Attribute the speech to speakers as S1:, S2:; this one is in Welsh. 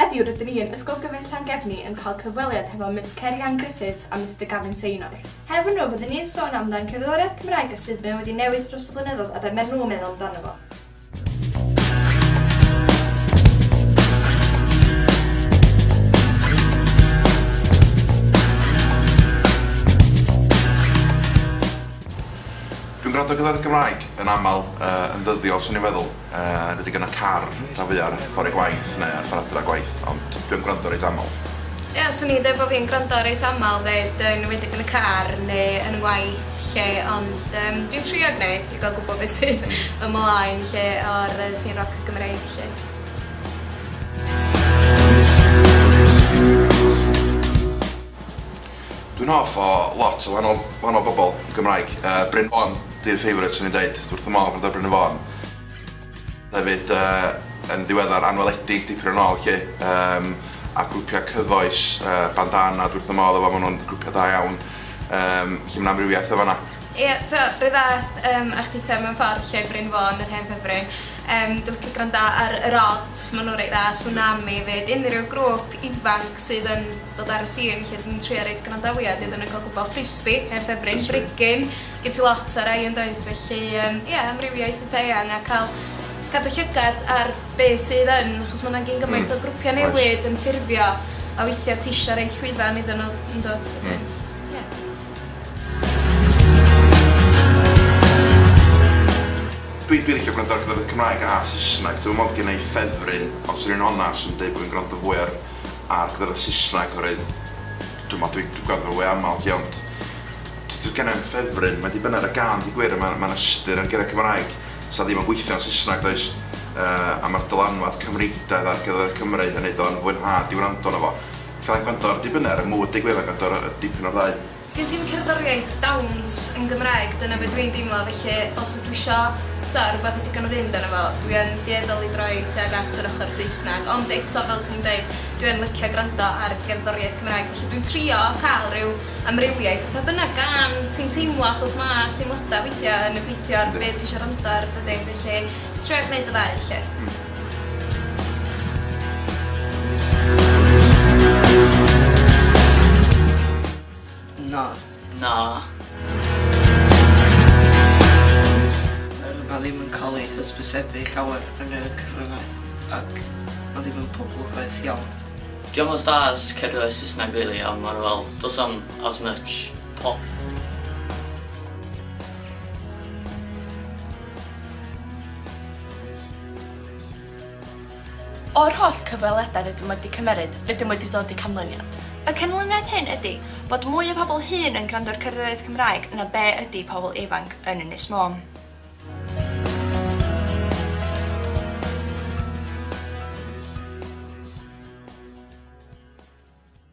S1: Heddiw rydyn ni yn Ysgol Gyfun Llangefni yn cael cyfweliad hefo Miss Ceri-Ann Griffiths a Mister Gavin Seynor. Hefo nhw bydden ni'n
S2: sôn amdan cerddoriaeth Cymraeg a sud mae o wedi newid dros y blynyddoedd a be maen nhw'n meddwl amdano fo.
S3: Dwi'n gwrando ar gerddoriaeth Gymraeg yn aml yn ddyddiol 'swn i'n feddwl. Yy dwi 'di gyrradd car rhan fwya'r ffor i gwaith ne' ffor adra gwaith ond dwi yn gwrando reit amal. Ie swn i'n deud
S1: bo' fi'n gwrando reit amal 'fyd yn enwedig yn y car ne' yn 'ngwaith 'lly ond yym dwi'n trio gneud i ga'l gwbo be' sy ymlaen 'lly o'r yy sîn roc Gymreig 'lly.
S3: Dwi'n hoff o lot o wahanol wahanol bobol Gymraeg yy Bryn Fôn 'di'r favourite swn i'n deud dwi wrth fy modd amdano Bryn y Fôn. Hefyd yy yn ddiweddar Anweledig dipyn yn ôl 'lly yym a grwpia' cyfoes yy Bandana dwi wrth fy modd efo ma' nw'n grwpia' da iawn yym felly ma' 'na amrywiaeth yn fan 'na. Ie t'o' 'run
S1: fath yym a ch'itha mewn ffordd 'lly Bryn Fôn yr hen ddyfryn yym dwi licio granda ar Yr Odds ma' n'w reit dda Sunami 'fyd unryw grŵp ifanc sydd yn dod ar y sîn 'lly dwi'n trio roid gwrandawiad iddyn n'w ca'l gwbo Frisbi heb ffefryn brigyn gin ti lot o rai yndoes felly yym ia amrywiaeth eitha eang a ca'l cadw llygad ar be' sydd yn achos ma' 'na gyn gymaint... Hmm. ...o grwpia' newydd yn ffurfio a weithia' ti isio roid llwyfan iddyn n'w yndwt? Hmm. Wedyn ia.
S3: Dwi'n dwi licio gwrando ar gyda'r Cymraeg a Saesneg. Dwi'n meddwl gen i ffefryn, ond swn i'n onast yn dweud bod fi'n gwrando fwy ar ar gyda'r Saesneg oherwydd dwi'n meddwl dwi'n gwrando fo fwy aml lly ond d- d- genna i'm ffefryn, mae'n dibynnu ar y gân deud gwir a ma' ma'n ystyr ar gyfer Cymraeg sa ddim yn gweithio yn Saesneg does? Yy a ma'r dylanwad Cymreictaidd ar gyfer y Cymry yn neud o'n fwynhad i wrando arno fo. Cae Condor, dipyn ar y mood deu gwefan Gondor a dipyn o'r ddau. Sgen ti'm cerddoriaeth
S1: dawns yn Gymraeg dyna be dwi'n deimlo felly os ydw isio t'o' rwbeth i ddigon o fynd arno fo dwi yn dueddol i droi tuag at yr ochor Saesneg ond eto fel ti'n deud dwi yn licio gwrando ar gerddoriaeth Cymraeg felly dwi'n trio ca'l ryw amrywiaeth a pa bynnag gân ti'n teimlo achos ma' teimlada weithia' yn effeithio ar be' ti isio rando ar dydi? Felly trio gneud y ddau 'lly. Hmm.
S4: Na. Na. Mae ddim yn cael ei hysbysebu llawer yn y cyfryngau ac mae ddim yn poblogaidd iawn. Diolch os da
S5: as cedro y Saesneg really, ond mae'r fel, dos am as much pop.
S6: O'r holl cyfweliadau rydym wedi cymeryd, rydym wedi dod i canlyniad. Y canlyniad hyn
S2: ydy bod mwy o bobl hŷn yn gwrando ar cerddoriaeth Cymraeg na be ydy pobl ifanc yn Ynys Môn.